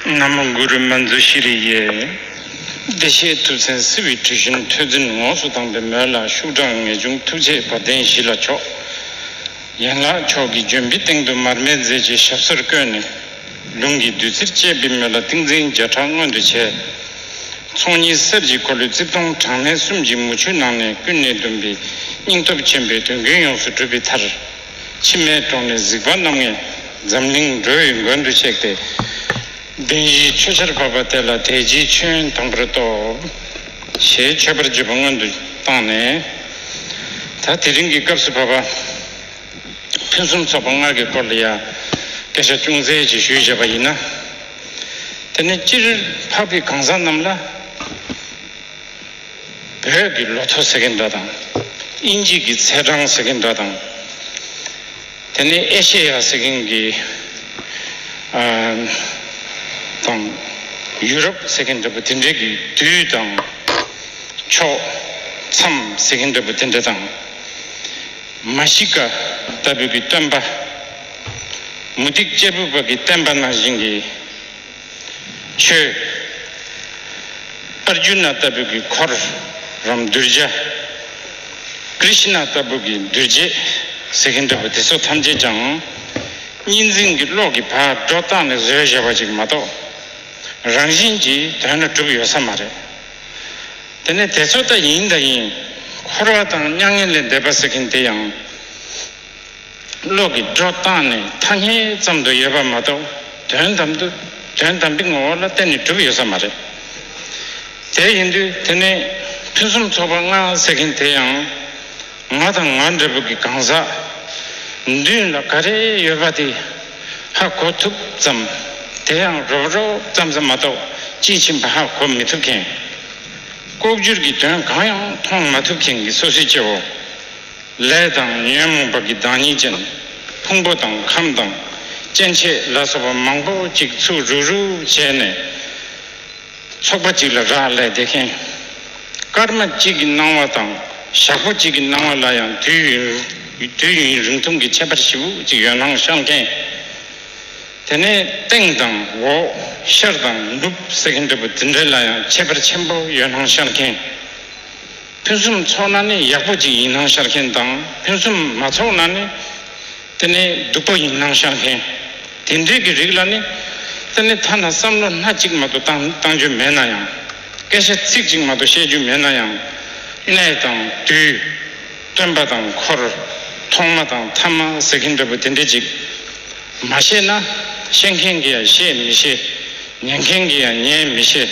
ན་མོ་གུ་རུ་མ་མཛོད་ཤྲི་རི་ཡའི། བདེ་གཤེགས་ཐུབ་བཙན་བསིལ་བའི་གྲུ་བཞིན་ཐོས་འཛིན་ངོགས་སུ་དྭངས་པའི་མོད་ལ་ཤུགས་དྲག་ངེས་འབྱུང་ཐུགས་རྗེ་བ་དན་བཞི་ལ་ཕྱོགས། ཡན་ལག་མཆོག་གི་ལྗོན་པའི་སྟེང་དུ་མར་མེ་མཛད་ཀྱི་ཞབས་སོར་བཀོད་ནས། ལུང་གི་བདུད་རྩིར་བཅས་པའི་མོད་ལ་ཏིང་འཛིན་བརྒྱ་ཕྲག་མངོན་དུ་བྱས། ཚོགས་གཉིས་གསེར་གྱི་འཁོར་ལོའི་རྩིབས་སྟོང་གྲངས་མེད་གསུམ་གྱི་མུ་ཁྱུད་ནང་ནས་ཀུན་ནས་བསྡོམས་པའི་སྙིང་སྟོབས་ཆེན་པོས་དོན་ཀུན་ཡོངས་སུ་གྲུབ་པའི་མཐར། མཆི་མའི་གྲོང་ནས་གཟིགས་པ་རྣམ་ངེས་འཛམ་གླིང་འགྲོ་བའི་མགོན་དུ་གཤེགས་ཏེ། གདན་བཞིའི་མཆོད་ཆར་བབས་པ་དེ་ལ་དལ་གྱིས་མཆོད་ཡོན་དང་པོར་སྟོབས། ཞེས་མཆོད་པར་བགྱི་བ་སྔོན་དུ་བཏང་ནས། ད་དེ་རིང་གི་སྐབས་སུ་བབས་པ། ཕུན་སུམ་ཚོགས་པ་སྔར་གྱི་སྐོར་ལ་ཡང་སྐད་ཆ་ཅུང་ཟད་ཅིག་ཞུས་བྱས་པ་ཡིན་ན། དེ་ནས་སྤྱིར་འཕགས་པའི་གང་ཟག་རྣམས་ལ། བོད་ཀྱི་ལོ་ཐོ་ཟེར་གྱི་འདྲ་དང། དབྱིན་ཇིས་ཀྱི་ཚེས་གྲངས་ཟེར་གྱི་འདྲ་དང། དེ་ནས་ཨེ་ཤེ་ཡ་ཟེར་གྱིན་གྱི། དང། ཡུ་རོབ་ཟེར་གྱི་འདྲ་པོ་དེ་འདྲའི་གི་དུས་དང། ཕྱོགས། མཚམས་ཟེར་གྱི་འདྲ་པོ་དེ་འདྲ་དང། མ་ཤི་ཀ་ལྟ་བུའི་གི་སྟོན་པ། མུ་ཏིག་གཅེར་བུ་པ་གི་བསྟན་པ་ནང་བཞིན་གྱི། མཆོད། ཨར་ཇུ་ན་ལྟ་བུ་གི་འཁོར་རམ་གདུལ་བྱ། ཀྲི་ཤི་ན་ལྟ་བུ་གི་འདུལ་བྱེད་ཟེར་གྱིན་འདུག་པ་དེ་ཚོ་ཐམས་ཅད་ཀྱང། གཉིས་འཛིན་གྱི་བློ་གི་བག་གྲོ་བཏང་ནས་བཟོས་བཞག་པ་ཅིག་མ་གཏོགས། རང་བཞིན་གྱིས་དོན་ལ་གྲུབ་ཡོད་ས་མ་རེད། དེ་ནས་དེ་ཚོ་ད་ཡིན་ད་ཡིན། འཁོར་བ་དང་མྱ་ངན་ལས་འདས་པ་ཟེར་གྱིན་དེ་ཡང། གློག་གི་སྒྲོ་བཏགས་ནི་ཐ་སྙད་ཙམ་དུ་ཡོད་པ་མ་གཏོགས་དོན་དམ་དུ་དོན་དམ་པའི་ངོ་བོ་ལ་བརྟེན་ནས་གྲུབ་ཡོད་ས་མ་རེད། དེ་ཡིན་དུས་དེ་ནས་ཕུན་སུམ་ཚོགས་པ་ལྔ་ཟེར་མཁན་དེ་ཡང་ང་དང་ང་འདྲ་བོ་གི་གང་ཟག་མདུན་ལ་ག་རེ་ཡོད་པ་དེ་ཧ་གོ་ཐུབ་ཙམ་དེ་ཡང་རོབ་རོབ་ཙམ་ཙམ་མ་གཏོགས་དཔྱིས་ཕྱིན་པ་ཧ་གོ་མི་ཐུབ་མཁན། ལྐོག་གྱུར་གྱི་དོན་གང་ཡང་མཐོང་མ་ཐུབ་མཁན་གྱི་སོ་སོའི་སྐྱེ་བོ། ལས་དང་ཉོན་མོངས་པ་གྱི་བདག་ཉིད་ཅན། ཕུང་པོ་དང་ཁམས་དང་སྐྱེ་མཆེད་ལ་སོགས་པ་མང་པོ་ཅིག་ཚུགས་རུག་རུག་བྱས་ནས། ཚོགས་པ་གཅིག་ལ་རག་ལས་བདེ་མཁན། སྐར་མ་གཅིག་གི་སྣང་བ་དང་ཞག་པོ་གཅིག་གི་སྣང་བ་ལ་ཡང་དུས་ཡུན་རིང་ཐུང་གི་ཁྱད་པར་བཞི་པོ་ཅིག་ཡོད་སྣང་ཤར་མཁན། དེ་ནས་སྟེང་དང་འོག་ཤར་དང་ནུབ་གསལ་མཁན་འདྲ་པོ་དེ་འདྲ་ལ་ཡང་ཁྱད་པར་ཆེན་པོ་ཡོད་སྣང་ཤར་མཁན། ཕུན་སུམ་ཚོགས་ན་ནི་ཡག་པོ་ཅིག་ཡིན་སྣང་ཤར་མཁན་དང་ཕུན་སུམ་མ་ཚོགས་ན་ནི་དེ་ནི་སྡུག་པ་ཡིན་སྣང་ཤར་མཁན། དེ་འདྲས་ཀྱི་རིགས་ལ་ནི་དེ་ནི་ཐ་ན་བསམ་བློ་སྣ་གཅིག་མ་དོ་བཏང་རྒྱུ་མེད་ན་ཡང། སྐད་ཆ་ཚིག་གཅིག་མ་དོ་བཤད་རྒྱུ་མེད་ན་ཡང། གནས་དང་དུས། སྟོན་པ་དང་འཁོར། ཐོག་མ་དང་ཐ་མ་ཟེར་མཁན་འདྲ་པོ་དེ་འདྲས་ཅིག། མ་ཤེས་ན། ཤེས་མཁན་གྱིས་ཡང་ཤེས་མི་ཤེས། ཉན་མཁན་གྱིས་ཡང་ཉན་མི་ཤེས།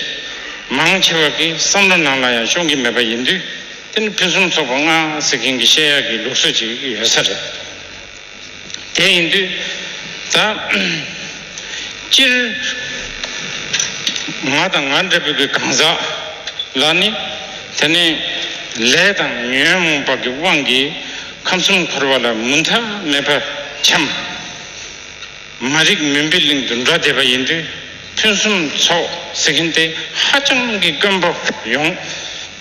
མང་ཆེ་བ་གི་བསམ་བློ་ནང་ལ་ཡང་ཤོང་གི་མེད་པ་ཡིན་དུས། དེ་ནི་ཕུན་སུམ་ཚོགས་པ་ལྔ་ཟེར་མཁན་གྱི་བཤད་ཡག་གི་ལུགས་སྲོལ་ཅིག་ཡོད་ས་རེད། དེ་ཡིན་དུས། ད། སྤྱིར། ང་དང་ང་འདྲ་བུ་གི་གང་ཟག་ལ་ནི། དེ་ནི། ལས་དང་ཉོན་མོངས་པ་གི་དབང་གིས། ཁམས་གསུམ་འཁོར་བ་ལ་མུ་མཐའ་མེད་པར་འཁྱམས། མ་རིག་མུན་པའི་གླིང་དུ་འགྲོ་བསྡད་པ་ཡིན་དུས་ཕུན་སུམ་ཚོགས་ཟེར་མཁན་དེ་ཧ་ཅང་གི་དཀོན་པོ་ཡོང།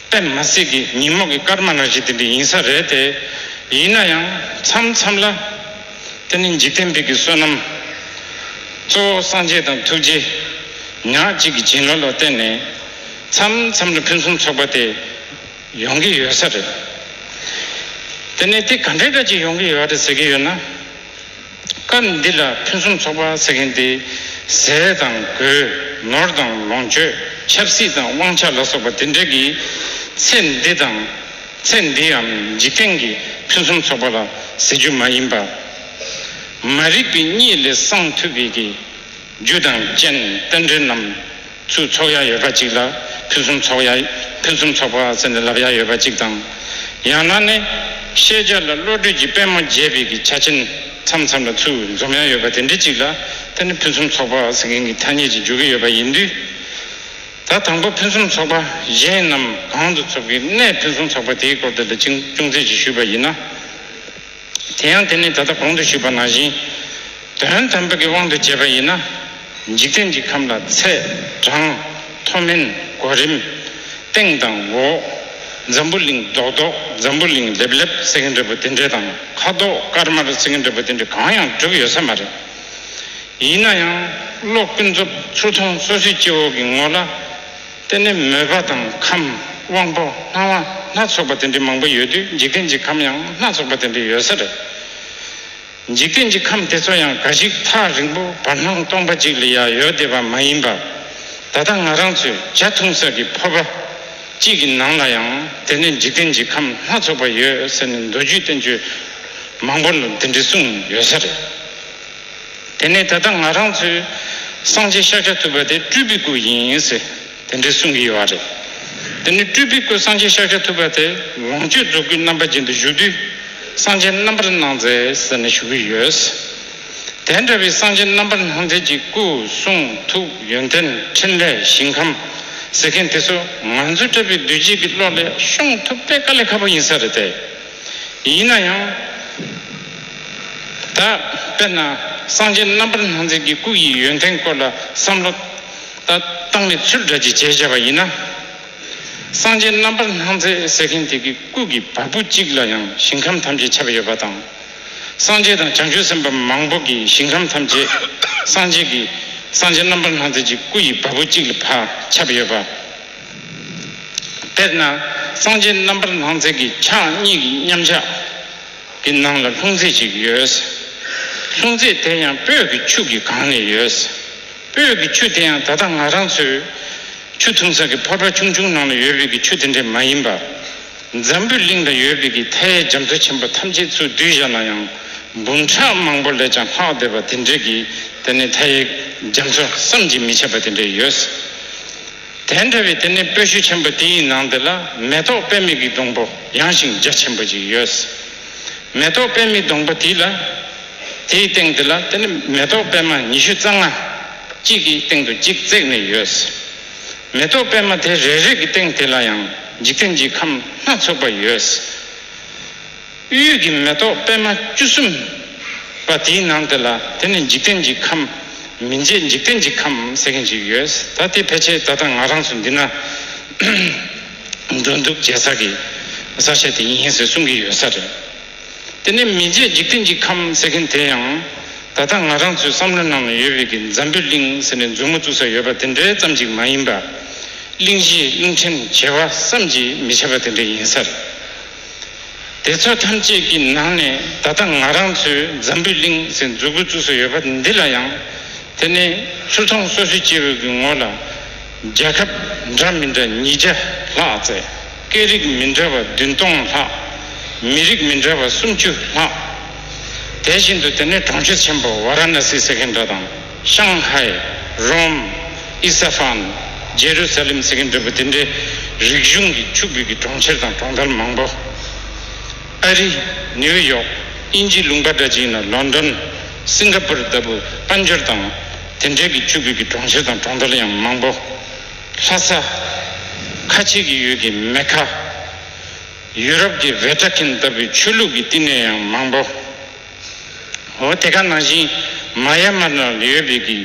དཔེར་ན་གསེར་གྱི་ཉིན་མོ་གི་སྐར་མ་རང་བཞིན་དེ་འདྲ་ཡིན་ས་རེད་དེ། ཡིན་ན་ཡང་མཚམས་མཚམས་ལ། དེ་ནི་འཇིག་རྟེན་པིག་གི་བསོད་ནམས། གཙོ་བོ་སངས་རྒྱས་དང་ཐུགས་རྗེ། ཉག་གཅིག་གི་བྱིན་རླབས་ལ་བརྟེན་ནས། མཚམས་མཚམས་ལ་ཕུན་སུམ་ཚོགས་པ་དེ། ཡོང་གི་ཡོད་ས་རེད། དེ་ནས་དེ་ག་འདྲའི་སྐད་ཅིག་ཡོང་གི་ཡོད་རེད་ཟེར་གྱི་ཡོད་ན། སྐབས་འདི་ལ་ཕུན་སུམ་ཚོགས་པ་ཟེར་མཁན་དེ་ཟས་དང་གོས་ནོར་དང་ལོངས་སྤྱོད་ཆབ་སྲིད་དང་དབང་ཆ་ལ་སོགས་པ་དེ་འདྲ་གི་ཚེ་འདི་དང་ཚེ་འདིའམ་འཇིག་རྟེན་གྱི་ཕུན་སུམ་ཚོགས་པ་ལ་ཟེར་རྒྱུ་མ་ཡིན་པར། མ་རིག་པའི་གཉིད་ལས་སངས་ཐུབ་པའི་གི། རྒྱུ་དང་རྐྱེན་རྟེན་འབྲེལ་རྣམས། ཚུལ་ཚོགས་ཡ་ཡོད་པ་གཅིག་ལ་ཕུན་སུམ་ཚོགས་ཡ་ཕུན་སུམ་ཚོགས་པ་ཟེར་ནས་ལབ་ཡ་ཡོད་པ་གཅིག་དང། ཡང་ན་ནི། ཤེས་བྱ་ལ་བློ་གྲོས་ཀྱི་པད་མོ་རྒྱས་པའི་གི་ཆ་ཆེན་མཚམས་མཚམས་ལ་ཚུལ་འཛོམས་ཡ་ཡོད་པ་དེ་འདྲའི་གཅིག་ལ་དེ་ནི་ཕུན་སུམ་ཚོགས་པ་ཟེར་མཁན་གྱི་ཐ་སྙད་ཅིག་འཇོག་གི་ཡོད་པ་ཡིན་དུས། ད་དང་པོ་ཕུན་སུམ་ཚོགས་པ་གཞན་རྣམས་གང་དུ་ཚུགས་ཀྱི་གནས་ཕུན་སུམ་ཚོགས་པ་དེའི་སྐོར་དེ་ལ་ཅུང་ཅུང་ཟད་ཅིག་ཞུས་པ་ཡིན་ན། དེ་ཡང་དེ་ནི་ད་ལྟ་གོང་དུ་ཞུས་པ་ནང་བཞིན། དོན་དམ་པའི་དབང་དུ་བྱས་པ་ཡིན་ན། འཇིག་རྟེན་གྱི་ཁམས་ལ་ཚད། གྲངས། མཐོ་དམན། གོ་རིམ། སྟེང་དང་འོག། འཛམ་བུ་གླིང་རྡོག་རྡོག་འཛམ་བུ་གླིང་ལེབ་ལེབ་སེ་གེ་འདྲ་བུ་དེ་འདྲའི་དང་ཁ་དོག་དཀར་དམར་སེ་གེ་འདྲ་བུ་དེ་འདྲའི་གང་ཡང་གྲུབ་ཡོད་ས་མ་རེད། ཡིན་ན་ཡང། བློ་ཀུན་རྫོབ་ཚུར་མཐོང་སོ་སོའི་སྐྱེ་བོ་གི་ངོ་ལ། དེ་ནི་མོས་པ་དང་ཁམས་དབང་པོ་སྣང་བ་སྣ་ཚོགས་པ་དེ་འདྲའི་མང་པོ་ཡོད་དུས་འཇིག་རྟེན་གྱི་ཁམས་ཡང་སྣ་ཚོགས་པ་དེ་འདྲའི་ཡོད་ས་རེད། འཇིག་རྟེན་གྱི་ཁམས་དེ་ཚོ་ཡང་འགའ་ཞིག་ཐག་རིང་པོ་བར་སྣང་སྟོང་པ་གཅིག་ལ་ཡང་ཡོད་བསྡད་པ་མ་ཡིན་པར། ད་ལྟ་ང་རང་ཚོས་གྱ་ཐུང་ས་ཀྱི་ཕོར་པ་གཅིག་གི་ནང་ལ་ཡང་དེ་ནས་འཇིག་རྟེན་གྱི་ཁམས་སྣ་ཚོགས་པ་ཡོད་ཟེར་ནས་མདོ་རྒྱུད་བསྟན་བཅོས་མང་པོ་ལ་འདི་འདྲི་གསུངས་ཡོད་ས་རེད། དེ་ནས་ད་ལྟ་ང་རང་ཚོས་སངས་རྒྱས་ཤཱཀྱ་ཐུབ་པ་དེ་སྤྲུལ་པའི་སྐུ་ཡིན་ཟེར་དེ་འདྲའི་གསུང་གི་ཡོད་རེད། དེ་ནི་སྤྲུལ་པའི་སྐུ་སངས་རྒྱས་ཤཱཀྱ་ཐུབ་པ་དེ་ལོངས་སྤྱོད་རྫོགས་སྐུའི་རྣམ་པ་ཅན་དུ་བཞུགས་དུས་སངས་རྒྱས་རྣམ་པར་སྣང་མཛད་ཟེར་ནས་ཞུ་གི་ཡོད། དེ་འདྲ་བའི་སངས་རྒྱས་རྣམ་པར་སྣང་མཛད་ཀྱི་སྐུ་གསུང་ཐུགས་ཡོན་ཏན་ཕྲིན་ལས་ཞིང་ཁམས་ཟེར་མཁན་དེ་ཚོ་ང་ཚོ་བཀྲ་བའི་བདུད་རྗེས་ཀྱི་བློ་ལས་ཤོང་ཐུབ་དེ་དཀའ་ལས་ཁག་པོ་ཡིན་ས་རེད་དེ། ཡིན་ན་ཡང། ད། དཔེར་ན། སངས་རྒྱས་རྣམ་པར་སྣང་མཛད་ཀྱི་སྐུ་ཡི་ཡོན་ཏན་སྐོར་ལ་བསམ་བློ། ད། བཏང་ནས་ཚུལ་འདྲ་གཅིག་བྱས་བྱས་པ་ཡིན་ན། སངས་རྒྱས་རྣམ་པར་སྣང་མཛད་ཟེར་མཁན་དེ་གི་སྐུ་གི་བ་སྤུ་གཅིག་ལ་ཡང་ཞིང་ཁམས་ཐམས་ཅད་ཁྱབ་ཡོད་པ་དང། སངས་རྒྱས་དང་བྱང་ཆུབ་སེམས་དཔའ་མང་པོ་གི་ཞིང་ཁམས་ཐམས་ཅད་སངས་རྒྱས་ཀྱི། སངས་རྒྱས་རྣམ་པར་སྣང་མཛད་ཀྱི་སྐུ་ཡི་བ་སྤུ་གཅིག་ལ་བ་ཁྱབ་ཡོད་པ། དཔེར་ན། སངས་རྒྱས་རྣམ་པར་སྣང་མཛད་ཀྱི་ཕྱག་གཉིས་ཀྱི་མཉམ་གཞག་གི་ནང་ལ་ལྷུང་བཟེད་ཅིག་ཡོད། ལྷུང་བཟེད་དེ་ཡང་སྤོས་ཀྱི་ཆུ་གི་སྒང་ནས་ཡོད། སྤོས་ཀྱི་ཆུ་དེ་ཡང་ད་ལྟ་ང་རང་ཚོས་ཆུ་འཐུང་ས་ཀྱི་ཕོར་པ་ཆུང་ཆུང་ནང་ལ་ཡོད་པའི་ཀྱི་ཆུ་དེ་འདྲ་མ་ཡིན་པ། འཛམ་བུའི་གླིང་ལ་ཡོད་པའི་ཀྱི་མཐའི་རྒྱ་མཚོ་ཆེན་པོ་ཐམས་ཅད་ཚུར་བསྡུས་བཞག་ན་ཡང་འབུམ་ཕྲག་མང་པོ་ལས་ཀྱང་ལྷག་བསྡད་པ་དེ་འདྲའི་ཀྱི་དེ་ནི་མཐའི་རྒྱ་མཚོ་བསམ་གྱིས་མི་ཁྱབ་པ་དེ་འདྲ་ཡོད། དེ་འདྲ་བའི་དེ་ནས་སྤོས་ཤུལ་ཆེན་པོ་དེ་ཡི་ནང་དེ་ལ་མེ་ཏོག་དཔལ་མིག་གི་སྡོང་པོ་ཡངས་ཤིང་རྒྱ་ཆེན་པོ་ཅིག་ཡོད། མེ་ཏོག་དཔལ་མིག་སྡོང་པོ་དེ་ལ་དེ་ཡི་སྟེང་དེ་ལ་དེ་ནི་མེ་ཏོག་པད་མ་ཉི་ཤུ་རྩ་ལྔ། གཅིག་གི་སྟེང་དུ་གཅིག་བརྩེགས་ནས་ཡོད། མེ་ཏོག་པད་མ་དེ་རེ་རེ་གི་སྟེང་དེ་ལ་ཡང་འཇིག་རྟེན་གྱི་ཁམས་སྣ་ཚོགས་པ་ཡོད། གཡུལ་གྱི་མེ་ཏོག་པད་མ་བཅུ་གསུམ། པ་དེའི་ནང་དེ་ལ་དེ་ནི་འཇིག་རྟེན་གྱི་ཁམས། མི་མཇེད་འཇིག་རྟེན་གྱི་ཁམས་ཟེར་མཁན་ཞིག་ཡོད། ད་དེ་ཕལ་ཆེར་ད་ལྟ་ང་རང་ཚོ་འདི་ན། འགྲོ་འདུག་བྱེད་ས་ཀྱི་ས་ཆ་དེ་ཡིན་ཟེར་གསུང་གི་ཡོད་ས་རེད། དེ་ནས་མི་མཇེད་འཇིག་རྟེན་གྱི་ཁམས་ཟེར་མཁན་དེ་ཡང། ད་ལྟ་ང་རང་ཚོའི་བསམ་བློའི་ནང་ན་ཡོད་པའི་གི་འཛམ་བུའི་གླིང་ཟེར་ནས་མཛུབ་མོ་བཙུགས་ས་ཡོད་པ་དེ་འདྲའི་ཙམ་ཅིག་མ་ཡིན་པ། གླིང་བཞི་རླུང་འཕྲིན་བྱེ་བ་བསམ་གྱིས་མི་ཁྱབ་པ་དེ་འདྲ་ཡིན་ས་རེད། དེ་ཚོ་ཐམས་ཅད་ཀྱི་ནང་ནས་ད་ལྟ་ང་རང་ཚོའི་འཛམ་བུའི་གླིང་ཟེར་འཛུགས་དགོས་བཅུག་སྲོལ་ཡོད་པ་འདི་ལ་ཡང། དེ་ནི་ཚུར་མཐོང་སོ་སོའི་སྐྱེ་བོའི་གི་ངོ་ལ། རྒྱལ་ཁབ་འདྲ་མི་འདྲ་ཉིས་བརྒྱ་ལྷག་བརྩེགས། སྐད་རིགས་མི་འདྲ་བ་བདུན་སྟོང་ལྷག། མི་རིགས་མི་འདྲ་བ་སུམ་ཅུ་ལྷག། དེ་བཞིན་དུ་དེ་ནི་གྲོང་ཁྱེར་ཆེན་པོ་ཝཱ་ར་ནཱ་སི་ཟེར་མཁན་འདྲ་དང། ཤང་ཧའེ། རོམ། ཨི་ས་ཧྥན། ཇེ་རུ་ས་ལེམ་ཟེར་མཁན་འདྲ་པོ་དེ་འདྲའི་རིག་གཞུང་གི་ཆུ་བོད་ཀྱི་གྲོང་ཁྱེར་དང་གྲོང་རྡལ་མང་པོ། ཨ་རི། ནེའུ་ཡོག། དབྱིན་ཇིའི་ལུང་པ་འདྲ་ཅིག་ཡིན་ན་ལོན་དོན། སིང་ག་པུར་ལྟ་བུ་དཔལ་འབྱོར་དང་དེ་འབྲེལ་གྱི་ཆུ་བོད་ཀྱི་གྲོང་ཁྱེར་དང་གྲོང་རྡལ་ཡང་མང་པོ། ལྷ་ས། ཁ་ཆེ་གི་ཡུལ་གྱི་མེ་ཁ། ཡུ་རོབ་ཀྱི་བྷེ་ཏྲ་ཁིན་ལྟ་བུའི་ཆོས་ལུགས་ཀྱི་བསྟི་གནས་ཡང་མང་པོ། འོ་དེ་ག་ནང་བཞིན་མ་ཡ་མ་ན་ལི་ཡོད་པའི་གི་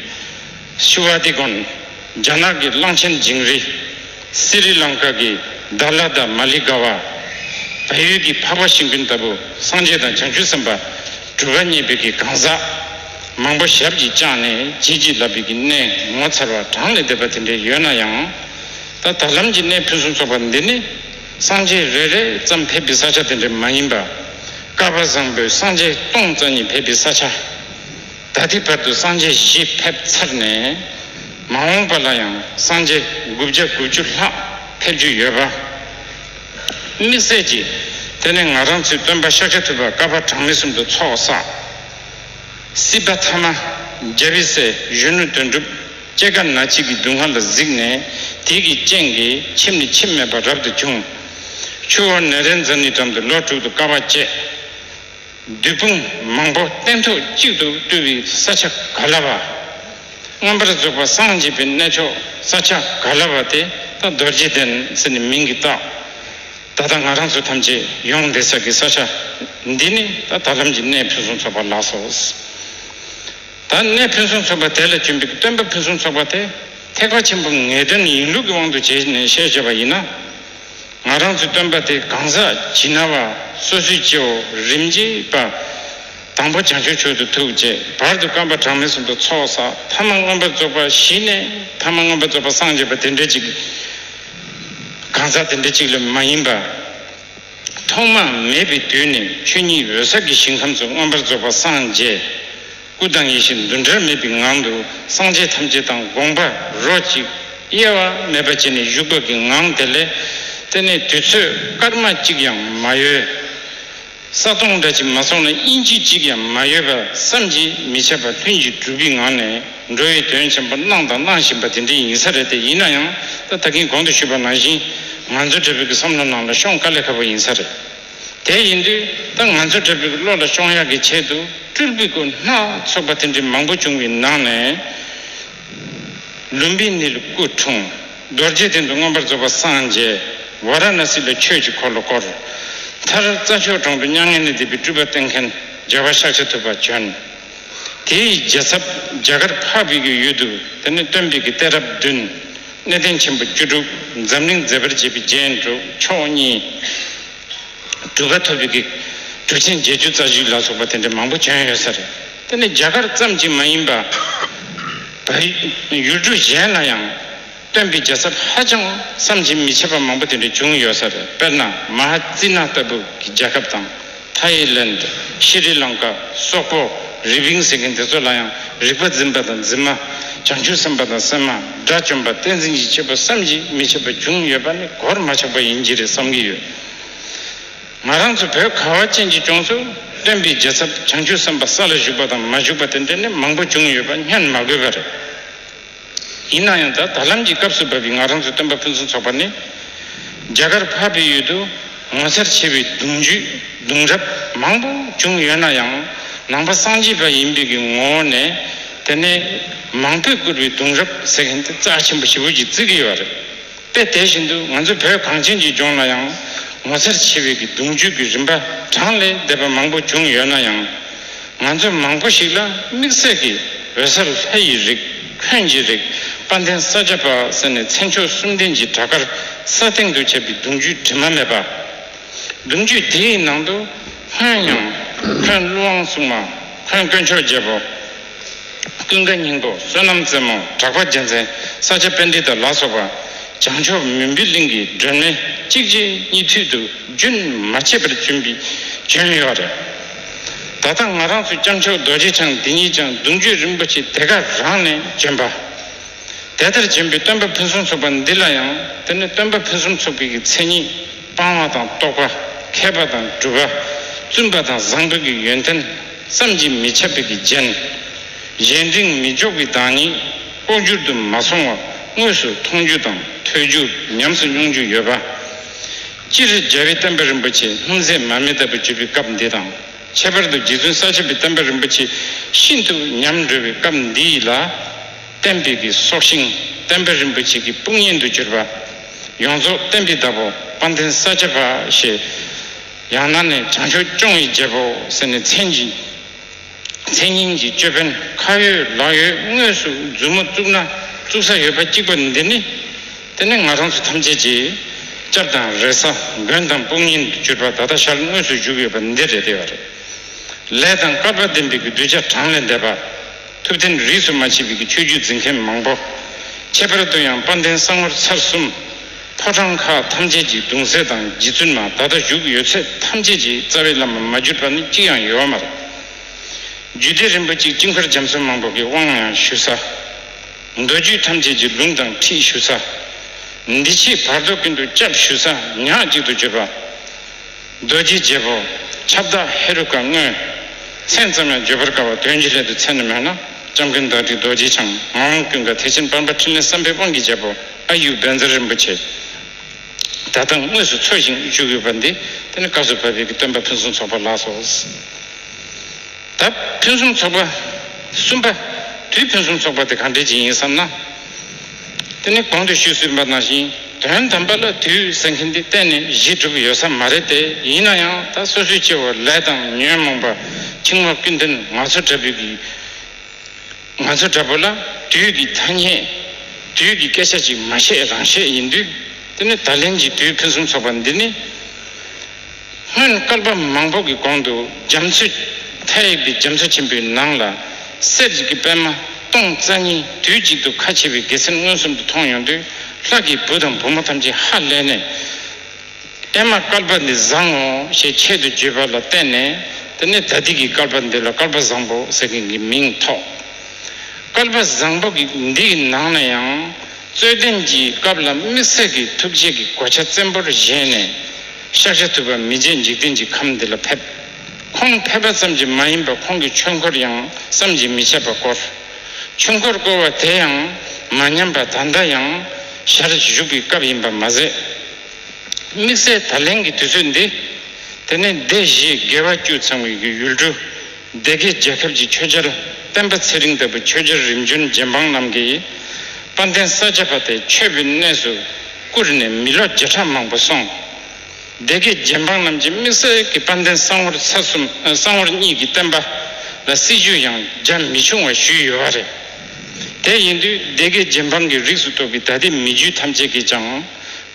ཤི་བ་དེ་གོན་རྒྱ་ནག་གི་གླང་ཆེན་ཇིང་རི། སི་རི་ལང་ཀ་གི་དར་ལ་དར་མ་ལི་ག་བ། བལ་ཡུལ་གྱི་འཕགས་པ་ཤིང་ཕིན་ལྟ་བུ་སངས་རྒྱས་དང་བྱང་ཆུབ་སེམས་དཔའ་གྲུ་པ་གཉིས་པའི་གི་གང་ཟག་མང་པོ་ཞབས་ཀྱིས་བཅགས་ནས་བྱིལ་བྱིལ་ལབ་པའི་གི་གནས་ངོ་མཚར་བ་གྲངས་ལས་འདས་པ་དེ་འདྲའི་ཡོད་ན་ཡང། ད་ད་ལམ་གྱི་གནས་ཕུན་སུམ་ཚོགས་པ་འདི་ནི། སངས་རྒྱས་རེ་རེ་ཙམ་ཕེབས་པའི་ས་ཆ་དེ་འདྲ་མ་ཡིན་པ། ཀརྦ་བཟང་པོས་སངས་རྒྱས་སྟོང་རྩ་གཉིས་ཕེབས་པའི་ས་ཆ། ད་ལྟའི་བར་དུ་སངས་རྒྱས་བཞི་ཕེབས་ཚར་ནས། མ་འོངས་པ་ལ་ཡང་སངས་རྒྱས་དགུ་བརྒྱ་དགུ་བཅུ་ལྷག་ཕེབས་རྒྱུ་ཡོད་པ། དམིགས་བསལ་གྱིས་དེ་ནི་ང་རང་ཚོའི་སྟོན་པ་ཤཱཀྱ་ཐུབ་པ་ཀརྦ་གྲངས་མེད་གསུམ་དུ་ཚོགས་བསགས། སྲིད་པ་ཐ་མ་རྒྱལ་བའི་སྲས་གཞོན་ནུ་དོན་གྲུབ། ལྕེ་ཁ་ན་གཅིག་གི་སྡུག་བསྔལ་ལ་གཟིགས་ནས་དེ་གི་སྤྱན་གྱིས་ཁྱིམ་ནི་ཁྱིམ་མེད་པར་རབ་ཏུ་འཁྱུང། ཆུ་བོ་ནེ་རན་ཛ་ནི་འགྲམ་དུ་ལོ་དྲུག་ཏུ་དཀའ་བ་སྤྱད། བདུད་དཔུང་མང་པོ་སྟན་ཐོག་གཅིག་ཏུ་བཏུལ་བའི་ས་ཆ་ག་ལ་བ། རྔམ་པར་རྫོགས་པ་སངས་རྒྱས་པའི་གནས་མཆོག་ས་ཆ་ག་ལ་བ་དེ་ད་རྡོ་རྗེ་གདན་ཟེར་ནས་མིང་གིས་བཏགས། ད་ལྟ་ང་རང་ཚོ་ཐམས་ཅད་ཡོངས་འདས་ས་དགེ་ས་ཆ་འདི་ནི་ད་ད་ལམ་གྱི་གནས་ཕུན་སུམ་ཚོགས་པ་ལགས་སོ། ད་ནས་ཕུན་སུམ་ཚོགས་པ་དེ་ལ་བྱིན་པའི་སྟོན་པ་ཕུན་སུམ་ཚོགས་པ་དེ་ཐེག་པ་ཆེན་པོ་ངེས་དོན་ཡིན་ལུགས་ཀྱི་དབང་དུ་བྱས་ནས་བཤད་བྱས་པ་ཡིན་ན། ང་རང་ཚོའི་སྟོན་པ་དེ་གང་ཟག་ཇི་ན་བ་སོ་སོའི་སྐྱེའོ་རིམ་གྱིས་པ། དང་པོ་བྱང་ཆུབ་ཆོས་དུ་ཐུགས་བཅས་བར་དུ་བསྐམས་པ་གྲངས་མེད་གསུམ་དུ་ཚོགས་བསགས་ཐ་མ་མངོན་པར་རྫོགས་པ་བཞི་ནས་ཐ་མ་མངོན་པར་རྫོགས་པ་སངས་རྒྱས་པ་དེ་འདྲ་གཅིག་གང་ཟག་དེ་འདྲ་གཅིག་ལས་མ་ཡིན་པ། ཐོག་མ་མེད་པའི་དུས་ནས་ཆོས་ཉིད་འོད་གསལ་གྱི་ཞིང་ཁམས་སུ་མངོན་པར་རྫོགས་པ་སངས་རྒྱས། སྐུ་དང་ཡེ་ཤེས་འདུ་འབྲལ་མེད་པའི་ངང་དུ་སངས་རྒྱས་ཐམས་ཅད་དང་དགོངས་པ་རོ་གཅིག། དབྱེ་བ་མེད་པ་བྱས་ནས་བཞུགས་པ་གི་ངང་དེ་ལས། དེ་ནས་དུས་ཚོད་སྐར་མ་གཅིག་ཡང་མ་ཡོལ། ས་སྟོང་སྒྲ་གཅིག་མ་སོང་ན་དབྱིན་ཇི་གཅིག་ཡང་མ་ཡོལ་བར་བསམ་གྱིས་མི་ཁྱབ་པ་ལྷུན་གྱིས་གྲུབ་པའི་ངང་ནས། འགྲོ་བའི་དོན་ཆེན་པོ་གནང་དང་གནང་བཞིན་པ་དེ་འདྲའི་ཡིན་ས་རེད་དེ་ཡིན་ན་ཡང་ད་ད་གིན་གོང་དུ་ཞུས་པ་ནང་བཞིན་ང་ཚོ་འདྲ་བོད་ཀྱི་བསམ་བློ་ནང་ལ་ཤོང་དཀའ་ལས་ཁ་པོ་ཡིན་ས་རེད་དེ་ཡིན་དུས་ད་ང་ཚོ་འདྲ་བོད་ཀྱི་བློ་ལ་ཤོང་ཡག་གི་ཆེད་དུ་སྤྲུལ་སྤུལ་སྐོར་སྣ་ཚོགས་པ་དེ་འདྲའི་མང་པོ་བྱུང་བའི་ནང་ནས་ལུམ་བི་ནི་ལ་སྐུ་འཁྲུངས་རྡོ་རྗེ་གདན་དུ་མངོན་པར་རྫོགས་པ་སངས་རྒྱས་ཝཱ་ར་ན་སི་ལ་ཆོས་ཀྱི་འཁོར་ལོ་བསྐོར། མཐར་རྩྭ་མཆོག་གྲོང་དུ་མྱ་ངན་ལས་འདས་པའི་སྤྲུལ་པ་བསྟེན་མཁན་རྒྱལ་བ་ཤཱཀྱ་ཐུབ་པ་བྱོན། དེ་ཡི་རྒྱལ་ཚབ་རྒྱ་གར་འཕགས་བོད་ཀྱི་ཡུལ་དུ་དེ་ནས་སྟོན་པའི་གི་ཏའི་རབས་བདུན། གནས་བརྟན་ཆེན་པོ་བཅུ་དྲུག་འཛམ་གླིང་མཛེས་པར་བྱེད་པའི་རྒྱན་དྲུག་མཆོག་གཉིས། གྲུ་པ་ཐོབ་པའི་གི། གྲུ་ཆེན་བརྒྱད་ཅུ་རྩ་བཞི་ལ་སོགས་པ་དེ་འདྲ་མང་པོ་བྱོན་ཡོད་ས་རེད། དེ་ནི་རྒྱ་གར་ཙམ་གྱིས་མ་ཡིན་པ། བོད་ཡུལ་གྲུ་གཞན་ལ་ཡང། སྟོན་པའི་རྒྱལ་ཚབ་ཧ་ཅང་བསམ་གྱིས་མི་ཁྱབ་པ་མང་པོ་དེ་འདྲ་བྱུང་ཡོད་ས་རེད་དཔེར་ན་མ་ཧ་ཙི་ན་ལྟ་བུ་གི་རྒྱལ་ཁབ་དང། Thailand། Sri Lanka། སོག་པོ། རི་བིང་ཟེར་མཁན་དེ་ཚོ་ལ་ཡང་རིག་པ་འཛིན་པ་དང་འཛིན་མ། བྱང་ཆུབ་སེམས་དཔའ་དང་སེམས་མ། དགྲ་བཅོམ་པ་བསྟན་འཛིན་གྱི་སྐྱེས་བུ་བསམ་གྱིས་མི་ཁྱབ་པ་བྱུང་ཡོད་པ་ནི་གོར་མ་ཆག་པ་ཡིན་གྱི་རེད་བསམ་གྱི་ཡོད། ང་རང་ཚོ་བོད་ཁ་བ་ཅན་གྱི་ལྗོངས་སུ་སྟོན་པའི་རྒྱལ་ཚབ་བྱང་ཆུབ་སེམས་དཔའ་ས་ལ་བཞུགས་པ་དང་མ་བཞུགས་པ་དེ་འདྲ་ནི་མང་པོ་བྱུང་ཡོད་པ་བསྙོན་མ་དགོས་པ་རེད། ཡིན་ན་ཡང་ད་ད་ལམ་གྱི་སྐབས་སུ་བབས་པའི་ང་རང་ཚོའི་སྟོན་པ་ཕུན་སུམ་ཚོགས་པ་ནི། རྒྱ་གར་འཕགས་པའི་ཡུལ་དུ་ངོ་མཚར་ཆེ་བའི་གདུང་རྒྱུད་གདུང་རབས་མང་པོ་བྱུང་ཡོད་ན་ཡང་ནང་པ་སངས་རྒྱས་པ་ཡིན་པའི་ངོ་བོ་ནས་དེ་ནས་མང་པོས་བསྐུར་བའི་གདུང་རབས་ཟེར་མཁན་དེ་རྩ་ཆེན་པོ་ཞི་བོད་ཀྱི་བརྩི་གི་ཡོད་པ་རེད། དཔེ་དེ་བཞིན་དུ་ང་ཚོ་བོད་གངས་ཅན་གྱི་ལྗོངས་ལ་ཡང་ངོ་ཚར་ཆེ་བའི་གི་གདུང་རྒྱུད་ཀྱི་རིམ་པ་གྲངས་ལས་འདས་པ་མང་པོ་བྱུང་ཡོད་ན་ཡང། ང་ཚོ་མང་པོ་ཞིག་ལ་དམིགས་བསལ་གྱི་འོད་ཟེར་ལྷ་ཡི་རིགས་ཁྱོན་གྱི་རིགས་དཔའ་མཐན་ས་སྐྱ་པ་ཟེར་ནས་མཚན་མཆོག་གསུམ་ལྡན་གྱི་བྲག་དཀར་ས་སྟེང་དུ་ཁྱབ་པའི་གདུང་རྒྱུད་དྲི་མ་མེད་པ། གདུང་རྒྱུད་དེའི་ནང་དུ། ཧོན་དབྱངས། ཁོན་ཀླུ་དབང་སྲུང་མ། ཁོན་དཀོན་མཆོག་རྒྱལ་པོ། ཀུན་དགའ་སྙིང་པོ་བསོད་ནམས་རྩེ་མོ་གྲགས་པ་རྒྱལ་མཚན་ས་སྐྱ་དཔལ་འདི་དར་ལ་སོགས་པ། བྱང་ཕྱོགས་མུན་པའི་གླིང་གི་སྒྲོན་མེ་གཅིག་རྗེས་གཉིས་མཐུད་དུ་རྒྱུན་མ་ཆད་པར་བྱོན་པའི་བྱོན་ཡོད་པ་རེད། ད་ལྟ་ང་རང་ཚོའི་སྐྱབས་མཆོག་རྡོ་རྗེ་འཆང་འདི་ཉིད་ཀྱང་གདུང་རྒྱུད་རིན་པོ་ཆེ་དེ་ག་རང་ནས་བྱོན་པ། དེ་ལྟར་བྱོན་པའི་སྟོན་པ་ཕུན་སུམ་ཚོགས་པ་འདི་ལ་ཡང་དེ་ནི་སྟོན་པ་ཕུན་སུམ་ཚོགས་པའི་གི་མཚན་ཉིད་སྤང་བ་དང་རྟོགས་པ་མཁས་པ་དང་གྲུབ་པ་བཙུན་པ་དང་བཟང་པོའི་གི་ཡོན་ཏན་བསམ་གྱིས་མི་ཁྱབ་པའི་གྱི་རྒྱན། གཞན་དྲིང་མི་འཇོག་གི་བདག་ཉིད་ལྐོག་གྱུར་དུ་མ་སོང་བར་དངོས་སུ་མཐོང་རྒྱུ་དང་ཐོས་རྒྱུ་ཉམས་སུ་མྱོང་རྒྱུ་ཡོད་པ། སྤྱིར་རྒྱལ་བའི་བསྟན་པ་རིན་པོ་ཆེ་ལྷུང་བཟེད་མར་མེ་ལྟ་བུ་བརྗོད་པའི་སྐབས་འདི་དང་ཁྱད་པར་དུ་རྗེ་བཙུན་ས་བྱི་པའི་བསྟན་པ་རིན་པོ་ཆེ་ཤིན་ཏུ་ཉམས་དགྲོལ་བའི་སྐབས་འདི་ཡིད་ལ་བརྟན་པའི་གི་སྲོག་ཤིང་བསྟན་པ་རིན་པོ་ཆེ་གི་དཔུང་གཉེན་དུ་གྱུར་པ། ཡོངས་རྫོགས་བསྟན་པའི་བདག་པོ་དཔའ་འཐེན་ས་སྐྱ་པ་ཞེས། ཡང་ན་ནི་བྱང་ཆུབ་སྐྱོང་ཡི་རྒྱལ་པོ་ཟེར་ནས་མཚན་གྱིས་མཚན་སྙིང་གིས་ཅོད་པན་ཁ་ཡོད་ལག་ཡོད་དངོས་སུ་མཛུབ་མོ་བཙུགས་ན་བཙུགས་ས་ཡོད་པ་གཅིག་པ་འདི་ནི་དེ་ནས་ང་རང་ཚོ་ཐམས་ཅད་ཀྱིས་སྐྱབས་དང་རེ་ས་མགོན་དང་དཔུང་གཉེན་དུ་གྱུར་པ་ད་ལྟ་ཞར་དངོས་སུ་བཞུགས་ཡོད་པ་འདི་རེད་བདེ་བ་རེད་ལས་དང་སྐལ་པ་ལྡན་པའི་གདུལ་བྱ་གྲངས་ལས་འདས་པ། ཐུབ་བསྟན་རིས་སུ་མ་མཆིས་པའི་ཆོས་བརྒྱུད་འཛིན་མཁན་མང་པོ། ཁྱད་པར་དུ་ཡང་དཔལ་ལྡན་གསང་བར་ཚར་གསུམ། ཕོ་བྲང་ཁག་ཐམས་ཅད་ཀྱི་གདུང་སྲས་དང་རྗེ་བཙུན་མ་ད་ལྟ་བཞུགས་ཡོད་ཚད་ཐམས་ཅད་ཀྱི་རྩ་བའི་བླ་མ་མ་གྱུར་པ་ནི་གཅིག་ཡང་ཡོད་མ་རེད། རྒྱུད་སྡེ་རིན་པོ་ཆེ་དཀྱིལ་འཁོར་རྒྱ་མཚོ་མང་པོ་གི་དབང་ཡང་ཞུ་ས། མདོ་རྒྱུད་ཐམས་ཅད་ཀྱི་ལུང་དང་ཁྲིད་ཞུ་ས། འདི་ཕྱིའི་བར་དོ་ཀུན་ཏུ་སྐྱབས་ཞུ་ས་ཉག་གཅིག་ཏུ་གྱུར་པ། རྡོ་རྗེའི་རྒྱལ་པོ་ཁྱབ་བདག་ཧེ་རུ་ཀ་དངོས། མཚན་ཙམ་ཡང་བརྗོད་པར་དཀའ་བ་དོན་གྱི་སླད་དུ་མཚན་ནི་མེད་ན་ལྕམ་སྐུའི་མདོ་སྡེ་རྡོ་རྗེ་འཆང་ངམ་ཀུན་དགའ་ཐེག་ཆེན་དཔལ་འབར་ཕྲིན་ལས་བསམ་འཕེལ་དབང་གི་རྒྱལ་པོ་ཨ་ཡུག་བན་ཛར་རིན་པོ་ཆེ་ད་ལྟ་དངོས་སུ་འཚོ་ཞིང་བཞུགས་ཡོད་པ་འདི་དེ་ནི་བཀའ་ཟུར་བྷ་བྷེ་ཀི་སྟོན་པ་ཕུན་སུམ་ཚོགས་པ་ལགས་སོ། ད་ཕུན་སུམ་ཚོགས་པ་གསུམ་པ་དུས་ཕུན་སུམ་ཚོགས་པ་དེ་གང་འདྲའི་རྗེས་ཡིན་བསམ་ན། དེ་ནི་གོང་དུ་ཞུས་ཟིན་པ་ནང་བཞིན་དོན་དམ་པ་ལ་དུས་ཟེར་མཁན་དེ་གཏན་ནས་གཞི་གྲུབ་ཡོད་ས་མ་རེད་དེ་ཡིན་ན་ཡང་ད་སོ་སོའི་སྐྱེ་བོ་ལས་དང་ཉོན་མོངས་པ་འཆིང་བ་ཀུན་འདུན་ང་ཚོ་འདྲ་བུ་གི་ང་ཚོ་འདྲ་བུ་ལ་དུས་ཀྱི་ཐ་སྙད་དུས་ཀྱི་སྐད་ཆ་ཅིག་མ་བཤད་རང་བཤད་ཡིན་དུས་དེ་ནི་ད་ལན་གྱི་དུས་ཕུན་སུམ་ཚོགས་པ་འདི་ནི། སྔོན་བསྐལ་པ་མང་པོ་གི་གོང་དུ་རྒྱ་མཚོས་མཐའ་ཡས་པའི་རྒྱ་མཚོ་ཆེན་པོའི་ནང་ལ་གསེར་གྱི་གི་པད་མ་སྟོང་རྩ་གཉིས་དུས་གཅིག་ཏུ་ཁ་ཕྱེ་བའི་དགེ་མཚན་མངོན་སུམ་དུ་མཐོང་ཡོང་དུས་ལྷ་ཀྱི་བུ་དང་བུ་མོ་ཐམས་ཅད་ཧ་ལས་ནས། ཨེ་མ་བསྐལ་པ་འདི་བཟང་ངོ་ཞེས་ཆེད་དུ་བརྗོད་པ་ལ་བརྟེན་ནས་དེ་ནས་ད་ཏིག་གི་བསྐལ་པ་འདི་ལ་བསྐལ་པ་བཟང་པོ་ཟེར་མཁན་གྱི་མིང་ཐོགས། བསྐལ་པ་བཟང་པོ་གི་འདིའི་ནང་ན་ཡང། རྩོད་ལྡན་གྱི་སྐབས་ལ་དམིགས་བསལ་གྱི་ཐུགས་རྗེ་གི་གོ་ཆ་བཙན་པོར་བཞེས་ནས། ཤཱཀ་ཤ་ཐུབ་པ་མི་རྗེ་འཇིག་རྟེན་གྱི་ཁམས་འདི་ལ་ཕེབས། ཁོང་ཕེབས་པ་ཙམ་གྱིས་མ་ཡིན་པར་ཁོང་གི་ཆོས་འཁོར་ཡང་བསམ་གྱིས་མི་ཁྱབ་པ་བསྐོར། ཆོས་འཁོར་བསྐོར་བ་དེ་ཡང་མ་ཉམས་པར་ད་ལྟ་ཡང་ཞར་བཞུགས་ཀྱི་སྐབས་ཡིན་པར་མ་ཟད། དམིགས་བསལ་ད་ལན་གྱི་དུས་ཚོད་འདི། དེ་ནས་སྡེ་བཞིའི་དགེ་བ་བཅུ་ཚང་བའི་ཡུལ་གྲུ་སྡེ་དགེ་རྒྱལ་ཁབ་ཀྱི་ཆོས་རྒྱལ་སྤེན་པ་ཚེ་རིང་ལྟ་བུ་ཆོས་རྒྱལ་རིམ་བྱོན་རྗེ་འབངས་རྣམས་ཀྱིས་དཔའ་མཐན་ས་སྐྱ་པ་དེ་ཆོས་པའི་གནས་སུ་བཀུར་ནས་མི་ལོ་བརྒྱ་ཕྲག་མང་པོ་སོང། སྡེ་དགེ་རྒྱལ་འབངས་རྣམས་ཀྱིས་དམིགས་བསལ་གྱི་དཔའ་མཐན་གསང་བོར་ཚ་གསུམ་གསང་བོར་གཉིས་ཀྱི་བསྟན་པ་ལ་སྲིད་ཇུས་ཡང་རྒྱ་མི་ཆུང་བ་ཞུས་ཡོད་པ་རེད། དེ་ཡིན་དུས་སྡེ་དགེ་རྒྱལ་འབངས་ཀྱི་རིགས་སུ་གཏོགས་པའི་ད་ལྟའི་མི་རྒྱུད་ཐམས་ཅད་ཀྱིས་ཀྱང་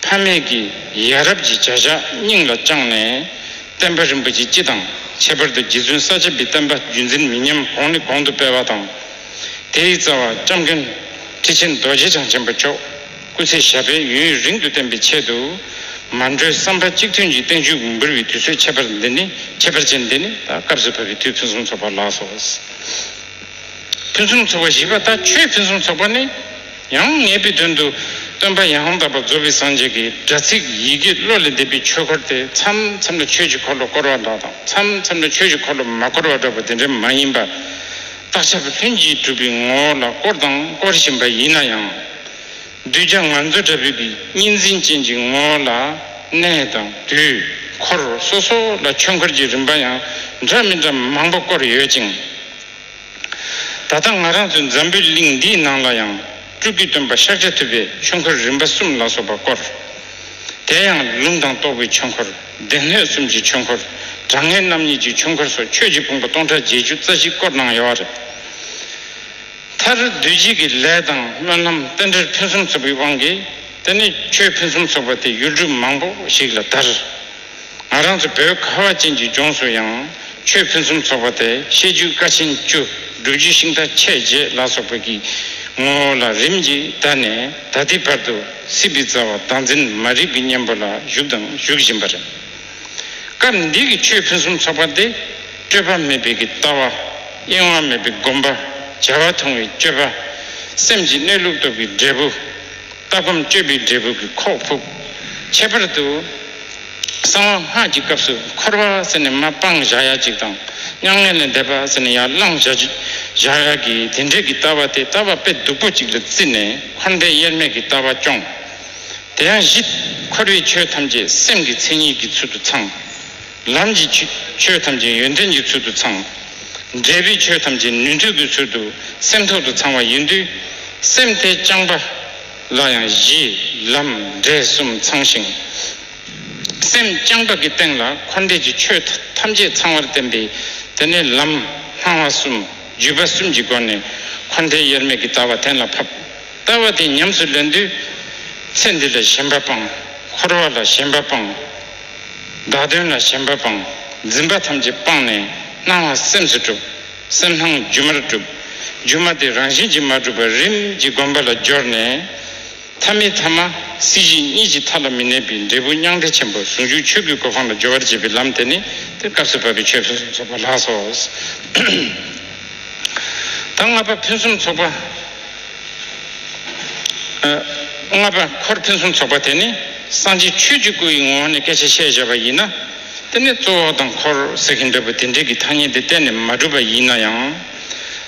ཕ་མེས་ཀྱི་ཡ་རབས་ཀྱི་བྱ་བཞག་སྙིང་ལ་བཅངས་ནས། བསྟན་པ་རིན་པོ་ཆེ་སྤྱི་དང་ཁྱད་པར་དུ་རྗེ་བཙུན་ས་བྱི་པའི་བསྟན་པ་རྒྱུད་འཛིན་མི་ཉམས་གོང་ནས་གོང་དུ་སྤེལ་བ་དང། དེའི་རྩ་བ་ལྕམ་མཁན་ཁྲི་ཆེན་རྡོ་རྗེ་འཆང་ཆེན་པོ་མཆོག་སྐུ་ཚེ་ཞབས་པད་ཡུན་ཡུན་རིང་དུ་བརྟན་པའི་ཆེད་དུ། མ་འགྲོའི་བསམ་པ་གཅིག་མཐུན་གྱིས་བསྟན་བཅོས་འབུལ་བའི་དུས་ཚོད་ཁྱད་པར་འདི་ནི་ཁྱད་པར་ཅན་འདི་ནི་ད་སྐབས་སུ་བབ་པའི་དུས་ཕུན་སུམ་ཚོགས་པ་ལགས་སོ། ཕུན་སུམ་ཚོགས་པ་བཞི་པ་ད་ཁྱོད་ཕུན་སུམ་ཚོགས་པ་ནི། ཡང་ངེས་པའི་དོན་དུ་སྟོན་པ་ཡང་དག་པར་རྫོགས་པའི་སངས་རྒྱས་ཀྱི་སྒྲ་ཚིག་ཡི་གེ་བློ་ལས་འདས་པའི་ཆོས་འཁོར་དེ་མཚམས་མཚམས་ལ་ཆོས་ཀྱི་འཁོར་ལོ་བསྐོར་བ་འདྲ་དང་མཚམས་མཚམས་ལ་ཆོས་ཀྱི་འཁོར་ལོ་མ་བསྐོར་བ་འདྲ་བ་དེ་འདྲ་མ་ཡིན་པར། རྟག་ཆད་པ་ལྷུན་གྱིས་གྲུབ་པའི་ངོ་བོ་ལ་བསྐོར་དང་བསྐོར་བཞིན་པ་ཡིན་ན་ཡང། གདུལ་བྱ་ང་ཚོ་འདྲ་བོས་ཀྱི་གཉིས་འཛིན་ཅན་གྱི་ངོ་བོ་ལ་གནས་དང་དུས་འཁོར་སོ་སོ་ལ་ཆོས་འཁོར་གྱི་རིམ་པ་ཡང་འདྲ་མི་འདྲ་མང་པོ་བསྐོར་ཡོད་ཅིང། ད་ལྟ་ང་རང་ཚོའི་འཛམ་བུའི་གླིང་འདིའི་ནང་ལ་ཡང་སྤྲུལ་སྐུའི་སྟོན་པ་ཤཱཀ་ཆ་ཐུབ་པའི་ཆོས་འཁོར་རིམ་པ་གསུམ་ལ་སོགས་པ་བསྐོར། དེ་ཡང་ལུང་དང་རྟོགས་པའི་ཆོས་འཁོར། སྡེ་སྣོད་གསུམ་གྱི་ཆོས་འཁོར། དྲང་ངེས་རྣམ་གཉིས་ཀྱི་ཆོས་འཁོར་སོགས་ཆོས་ཀྱི་དཔུང་པ་སྟོང་ཕྲག་བརྒྱད་ཅུ་རྩ་བཞི་བསྐོར་གནང་ཡོད་པ་རེད། མཐར་བདུད་རྗེས་ཀྱི་ལས་དང་སྨོན་ལམ་རྟེན་འབྲེལ་ཕུན་སུམ་ཚོགས་པའི་དབང་གིས་དེ་ནས་ཆོས་ཕུན་སུམ་ཚོགས་པ་དེ་ཡུལ་གྲུ་མང་པོ་ཞིག་ལ་དར། ང་རང་ཚོ་བོད་ཁ་བ་ཅན་གྱི་ལྗོངས་སུ་ཡང་ཆོས་ཕུན་སུམ་ཚོགས་པ་དེ་བཤད་རྒྱུད་བཀའ་ཆེན་བཅུ་སྒྲུབ་རྒྱུད་ཤིང་རྟ་ཆས་རྗེས་ལ་སོགས་པའི་གི་ངོ་བོ་ལ་རིམ་གྱིས་བརྡ་ནས་ད་ལྟའི་བར་དུ་སྲིད་པའི་རྩ་བ་བདག་འཛིན་མ་རིག་གི་གཉེན་པོ་ལ་བཞུགས་དང་བཞུགས་བཞིན་པ་རེད། སྐབས་འདི་གི་ཆོས་ཕུན་སུམ་ཚོགས་པ་འདི་སྤྲོས་པ་མེད་པའི་གི་ལྟ་བ། གཡེང་བ་མེད་པའི་སྒོམ་པ། བྱ་བ་ཐུང་བའི་སྤྱོད་པ། སེམས་ཀྱི་གནས་ལུགས་རྟོགས་པའི་འབྲས་བུ། ལྟ་སྒོམ་སྤྱོད་པའི་འབྲས་བུ་གི་ཁོག་ཕུབ། ཁྱད་པར་དུ། གསང་བ་སྔགས་ཀྱི་སྐབས་སུ་འཁོར་བ་ཟེར་ནས་མ་སྤང་བཞག་ཡ་གཅིག་དང། མྱ་ངན་ལས་འདས་པ་ཟེར་ནས་ཡར་བླངས་བཞག་ཡ་གི་དེ་འདྲས་ཀྱི་ལྟ་བ་དེ་ལྟ་བ་དཔེ་སྡུག་པོ་ཅིག་ལ་བརྩིས་ནས་འཁོར་འདས་དབྱེར་མེད་ཀྱི་ལྟ་བ་སྐྱོང། དེ་ཡང་བཞི། འཁོར་བའི་ཆོས་ཐམས་ཅད་སེམས་ཀྱི་མཚན་ཉིད་ཀྱི་ཚུལ་དུ་ཚང། ལམ་གྱི་ཆོས་ཐམས་ཅད་ཡོན་ཏན་གྱི་ཚུལ་དུ་ཚང། འབྲས་བུའི་ཆོས་ཐམས་ཅད་ནུས་མཐུ་གྱི་ཚུལ་དུ་སེམས་ཐོག་ཏུ་ཚང་བ་ཡིན་དུས། སེམས་དེ་རྐྱང་པ་ལ་ཡང་གཞི། ལམ། འབྲས་གསུམ་ཚང་ཞིང། སེམས་རྐྱང་པ་གྱི་སྟེང་ལ་འཁོར་འདས་ཀྱི་ཆོས་ཐམས་ཅད་ཚང་བར་བསྟན་པས་དེ་ནས་ལམ། སྣང་བ་གསུམ། བརྒྱུད་པ་གསུམ་གྱི་སྒོ་ནས་འཁོར་འདས་དབྱེར་མེད་ཀྱི་ལྟ་བ་གཏན་ལ་ཕབ། ལྟ་བ་དེ་ཉམས་སུ་ལེན་དུས། ཚེ་འདི་ལ་ཞེན་པ་སྤང། འཁོར་བ་ལ་ཞེན་པ་སྤང། བདག་དོན་ལ་ཞེན་པ་སྤང། འཛིན་པ་ཐམས་ཅད་སྤངས་ནས་སྣང་བ་སེམས་སུ་གྲུབ། སེམས་སྣང་སྒྱུ་མར་གྲུབ། སྒྱུ་མ་དེ་རང་བཞིན་གྱིས་མ་གྲུབ་པར་རིམ་གྱིས་སྒོམ་པ་ལ་སྦྱོར་ནས། ཐ་མི་ཐ་མ་སྲིད་ཞི་གཉིས་ཀྱི་མཐའ་ལ་མི་གནས་པའི་འབྲས་བུ་མྱང་འདས་ཆེན་པོ་ཟུང་འཇུག་ཆོས་སྐུའི་གོ་འཕང་ལ་སྦྱོར་བར་བྱེད་པའི་ལམ་དེ་ནི་དེར་སྐབས་སུ་བབ་པའི་ཆོས་ཕུན་སུམ་ཚོགས་པ་ལགས་སོ། དང་ལྔ་པ་ཕུན་སུམ་ཚོགས་པ། ལྔ་པ་འཁོར་ཕུན་སུམ་ཚོགས་པ་དེ་ནི་སངས་རྒྱས་ཆོས་ཀྱི་སྐུ་ཡི་ངོ་བོ་ནས་སྐད་ཆ་བཤད་བཞག་པ་ཡིན་ན། དེ་ནི་གཙོ་བོ་དང་འཁོར་ཟེར་གྱི་འདོད་པ་དེ་འདྲས་ཀྱི་ཐ་སྙད་འདི་གཏན་ནས་མ་གྲུབ་པ་ཡིན་ན་ཡང།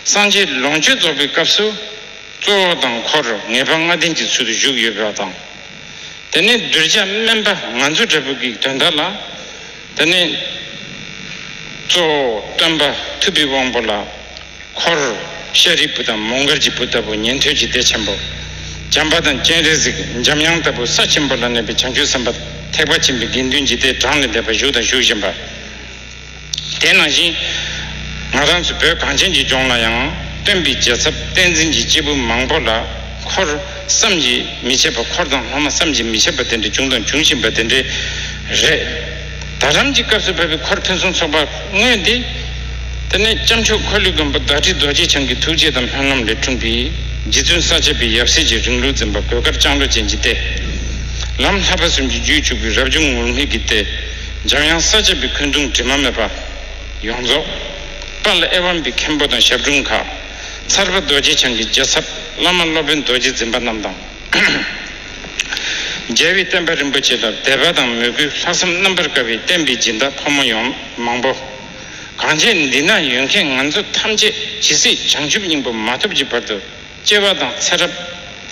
སངས་རྒྱས་ལོངས་སྤྱོད་རྫོགས་པའི་སྐབས་སུ། གཙོ་བོ་དང་འཁོར་ངེས་པ་ལྔ་ལྡན་གྱི་ཚུལ་དུ་བཞུགས་ཡོད་པ་དང། དེ་ནི་གདུལ་བྱ་དམན་པ་ང་ཚོ་འདྲ་བུ་གིས་དོན་དག་ལ། འདི་ནི་གཙོ་བོ་སྟོན་པ་ཐུབ་པའི་དབང་པོ་ལ་འཁོར་ཤཱ་རིའི་བུ་དང་མོ་མགར་གྱི་བུ་ལྟ་བུ་ཉན་ཐོས་ཀྱི་སྡེ་ཆེན་པོ་བྱམས་པ་དང་སྤྱན་རས་གཟིགས་འཇམ་དབྱངས་ལྟ་བུ་ས་ཆེན་པོ་ལ་གནས་པའི་བྱང་ཆུབ་སེམས་དཔའ་ཐེག་པ་ཆེན་པོའི་དགེ་འདུན་གྱི་སྡེ་གྲངས་ལས་འདས་པ་བཞུགས་དང་བཞུགས་བཞིན་པ་དེ་ནང་བཞིན་ང་རང་ཚོ་བོད་གངས་ཅན་གྱི་ལྗོངས་ལ་ཡང་སྟོན་པའི་རྒྱལ་ཚབ་བསྟན་འཛིན་གྱི་སྐྱེས་བུ་མང་པོ་ལ་འཁོར། བསམ་གྱིས་མི་ཁྱབ་པ་འཁོར་དང་ལྷག་མ་བསམ་གྱིས་མི་ཁྱབ་པ་དེ་འདྲ་བྱུང་དང་འབྱུང་བཞིན་པ་དེ་འདྲའི་རེད། དར་རམ་གྱི་སྐབས་སུ་བབས་པའི་འཁོར་ཕུན་སུམ་ཚོགས་པ་དངོས་འདི། དེ་ནས་སྐྱབས་མཆོག་འཁོར་ལོའི་མགོན་པོ་བདག་ཁྲི་རྡོ་རྗེ་འཆང་གི་ཐུགས་རྗེ་དང་ལྷོད་ལམ་ལས་འཁྲུངས་པའི་རྗེ་བཙུན་ས་བཅད་པའི་ཡབ་སྲས་ཀྱི་རིང་ལུགས་འཛིན་པ་གོས་དཀར་ལྕང་ལོ་ཅན་གྱི་སྟེ། ལམ་ལྷག་པ་གསུམ་གྱི་རྒྱུད་བཅུག་པའི་རབ་བྱུང་ངུར་སྨྲིག་གི་སྟེ། འཇམ་དབྱངས་ས་བཅད་པའི་འཁོན་གདུང་དྲི་མ་མེད་པ། ཡོངས་རྫོགས། དཔའ་ལ་ཨེ་ཝམ་པའི་མཁན་པོ་དང་ཞབས་དྲུང་ཁག། ཚར་པ་རྡོ་རྗེ་འཆང་གི་རྒྱལ་ཚབ་བླ་མ་སློབ་དཔོན་རྡོ་རྗེ་འཛིན་པ་རྣམས་དང། རྒྱལ་བའི་བསྟན་པ་རིན་པོ་ཆེ་ལ་དད་པ་དང་མོས་གུས་ལྷག་བསམ་རྣམ་པར་དཀར་བའི་བསྟན་པའི་སྦྱིན་བདག་ཕོ་མོ་ཡོངས་མང་པོ། གང་བྱས་འདི་ན་ཡོད་མཁན་ང་ཚོ་ཐམས་ཅད་ཇི་སྲིད་བྱང་ཆུབ་སྙིང་པོ་མ་ཐོབ་ཀྱི་བར་དུ་སྐྱེ་བ་དང་ཚེ་རབས།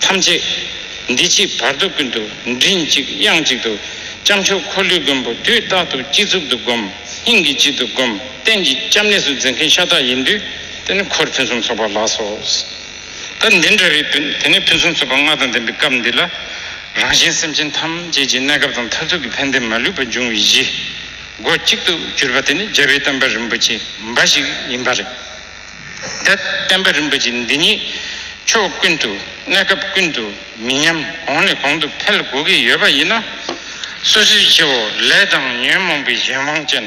ཐམས་ཅད་འདི་ཕྱིའི་བར་དོ་ཀུན་ཏུ་མགྲིན་གཅིག་དབྱངས་གཅིག་ཏུ། སྐྱབས་མཆོག་འཁོར་ལོའི་མགོན་པོ་དུས་རྟག་ཏུ་སྤྱི་གཙུག་ཏུ་བསྒོམ། སྙིང་གི་དཀྱིལ་དུ་བསྒོམ། རྟེན་གྱི་སྐྱབས་གནས་སུ་འཛིན་མཁན་ཤ་སྟག་ཡིན་དུས་དེ་ནི་འཁོར་ཕུན་སུམ་ཚོགས་པ་ལགས་སོ། ད་འདི་འདྲ་རེད་དུས་དེ་ནས་ཕུན་སུམ་ཚོགས་པ་ལྔ་དང་ལྡན་པའི་སྐབས་འདི་ལ། རང་གཞན་སེམས་ཅན་ཐམས་ཅད་ཀྱི་གནས་སྐབས་དང་མཐར་ཐུག་གི་ཕན་བདེ་མ་ལུས་པ་འབྱུང་བའི་གཞི། སྒོ་གཅིག་ཏུ་གྱུར་པ་དེ་ནི་རྒྱལ་བའི་བསྟན་པ་རིན་པོ་ཆེ་འབའ་ཞིག་ཡིན་པ་རེད། འདི་བསྟན་པ་རིན་པོ་ཆེ་འདི་ཉིད་ཕྱོགས་ཀུན་ཏུ་གནས་སྐབས་ཀུན་ཏུ་མི་ཉམས་གོང་ནས་གོང་དུ་འཕེལ་དགོས་ཀྱི་ཡོད་པ་ཡིན་ན། སོ་སོའི་ཁྱེའུ་ལས་དང་ཉོན་མོངས་པའི་གཞན་དབང་ཅན་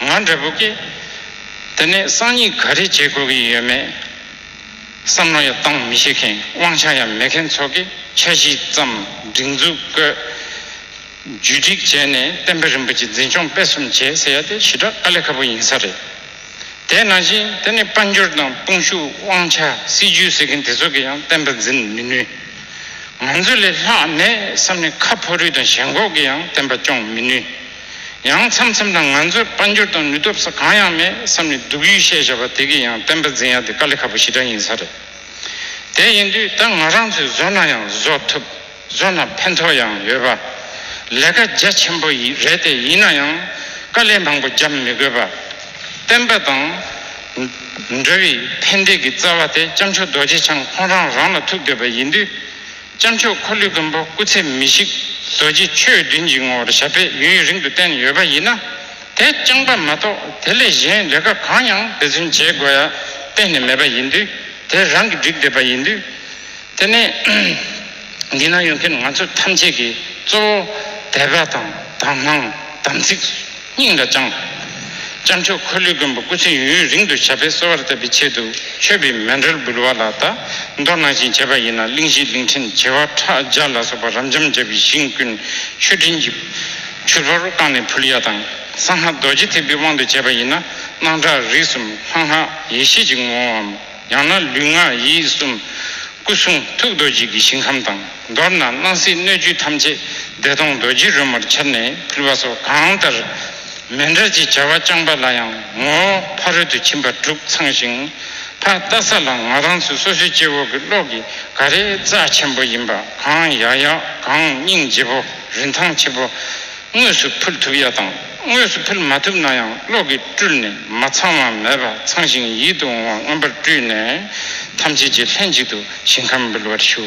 ང་འདྲ་བོ་ཀྱིས་དེ་ནས་སང་ཉིན་ག་རེ་བྱེད་དགོས་ཀྱི་ཡོད་མེད་བསམ་བློ་ཡང་གཏང་མི་ཤེས་མཁན་དབང་ཆ་ཡང་མེད་མཁན་ཚོ་གིས་ཆ་བཞི་ཙམ་སྒྲིག་འཛུགས་བཀོད་བརྒྱུད་སྒྲིག་བྱས་ནས་བསྟན་པ་རིན་པོ་ཆེ་འཛིན་སྐྱོང་སྤེལ་གསུམ་བྱེད་ཟེར་ཡ་དེ་ཞི་དྲག་དཀའ་ལས་ཁ་པོ་ཡིན་ས་རེད། དེས་ན་བཞིན་དེ་ནི་དཔལ་འབྱོར་དང་དཔུང་ཤུགས་དབང་ཆ་སྲིད་ཇུས་ཟེར་མཁན་དེ་ཚོ་གིས་ཡང་བསྟན་པ་འཛིན་མི་ནུས། ང་ཚོ་ལས་ལྷག་གནས་སམ་ནི་ཁ་ཕོ་རུས་དང་ཞེན་ཁོག་གིས་ཡང་བསྟན་པ་སྐྱོང་མི་ནུས། ཡང་མཚམས་མཚམས་དང་ང་ཚོར་དཔལ་འབྱོར་དང་ནུས་སྟོབས་ས་གང་ཡང་མེད་བསམ་ནི་སྡུག་ཡུས་ཤས་བཞག་པ་དེ་གིས་ཡང་བསྟན་པ་འཛིན་ཡག་དེ་དཀའ་ལས་ཁ་པོ་ཞི་དྲག་ཡིན་ས་རེད། དེ་ཡིན་དུས་ད་ང་རང་ཚོས་བཟོ་ན་ཡང་བཟོ་ཐུབ། བཟོ་ན་ཕན་ཐོགས་ཡང་ཡོད་པ། ལས་ཀ་རྒྱ་ཆེན་པོ་རེད་དེ་ཡིན་ན་ཡང་དཀའ་ལས་མང་པོ་རྒྱབ་མི་དགོས་པ། བསྟན་པ་དང། འགྲོ་བའི་ཕན་བདེ་གི་རྩ་བ་དེ་སྐྱབས་མཆོག་རྡོ་རྗེ་འཆང་ཁོང་རང་རང་ལ་ཐུག་འདོད་པ་ཡིན་དུས། སྐྱབས་མཆོག་འཁོར་ལོས་མགོན་པོ་སྐུ་ཚེ་མི་ཤིགས་རྡོ་རྗེ་ཆོས་བདུན་གྱི་ངོ་བོར་ཞབས་པད་ཡུན་རིང་དུ་བསྟན་ཡོད་པ་ཡིན་ན། དེ་རྐྱང་པ་མ་གཏོགས་དེ་ལས་གཞན་ལས་ཀ་གང་ཡང་དེ་ཚུན་བྱེད་དགོས་ཡ་གཏན་ནས་མེད་པ་ཡིན་དུས་དེ་རང་གིས་བསྒྲིགས་བསྡད་པ་ཡིན་དུས། དེ་ནས་འདི་ན་ཡོད་མཁན་ང་ཚོ་ཐམས་ཅད་ཀྱིས་གཙོ་བོ་དད་པ་དང་དག་སྣང་དམ་ཚིག་སྙིང་ལ་བཅངས། སྐྱབས་མཆོག་འཁོར་ལོས་མགོན་པོ་སྐུ་ཚེ་ཡུན་རིང་དུ་ཞབས་པད་གསོ་བར་བསྟབ་པའི་ཆེད་དུ་མཆོད་པའི་མེ་འབྲེལ་འབུལ་བ་ལ་བལྟ་མདོར་གནང་བཞིན་བྱས་པ་ཡིན་ན་གླིང་བཞི་གླིང་ཕྲན་བྱེ་བ་ཕྲག་བརྒྱ་ལ་སོགས་པ་རབ་འབྱམས་རྒྱལ་བའི་ཞིང་ཀུན་མཆོད་སྤྲིན་གྱི་ཆུ་ལྷོར་བཀང་ནས་ཕུལ་ཡ་དང་གསང་སྔགས་རྡོ་རྗེ་ཐེག་པའི་དབང་དུ་བྱས་པ་ཡིན་ན་སྣང་གྲགས་རིགས་གསུམ་ལྷ་སྔགས་ཡེ་ཤེས་ཀྱི་ངོ་བོའམ། ཡང་ན་ལུས་ངག་ཡིད་གསུམ། སྐུ་གསུང་ཐུགས་རྡོ་རྗེ་གི་ཞིང་ཁམས་དང་མདོར་ན་སྣང་སྲིད་སྣོད་བཅུད་ཐམས་ཅད་བདེ་སྟོང་རྡོ་རྗེ་རོལ་མོར་ཁྱབ་ནས་ཕུལ་བ་སོགས་གང་ལྟར། མེ་འདྲ་ཅེས་བྱ་བ་རྐྱང་པ་ལ་ཡང་ངོ་བོ་ཕ་རོལ་ཏུ་ཕྱིན་པ་དྲུག་ཚང་ཞིང། ཕ་བལྟ་ས་ལ་ང་རང་ཚུལ་སོ་སོའི་སྐྱེ་བོ་གི་བློ་གི་ག་རེ་རྩ་ཆེན་པོ་ཡིན་པ་གང་ཡག་ཡག་གང་སྙིང་རྗེ་བོ་རིན་ཐང་ཆེ་བོ། དངོས་སུ་ཕུལ་ཐུབ་ཡ་དང་དངོས་སུ་ཕུལ་མ་ཐུབ་ན་ཡང་གློག་གིས་སྤྲུལ་ནས་མ་ཚང་བ་མེད་པ་ཚང་ཞིང་ཡིད་དུ་འོང་བ་མངོན་པར་སྤྲུལ་ནས་ཐམས་ཅད་ཀྱི་ལྷན་ཅིག་ཏུ་ཞིང་ཁམས་འབུལ་བར་ཞུ།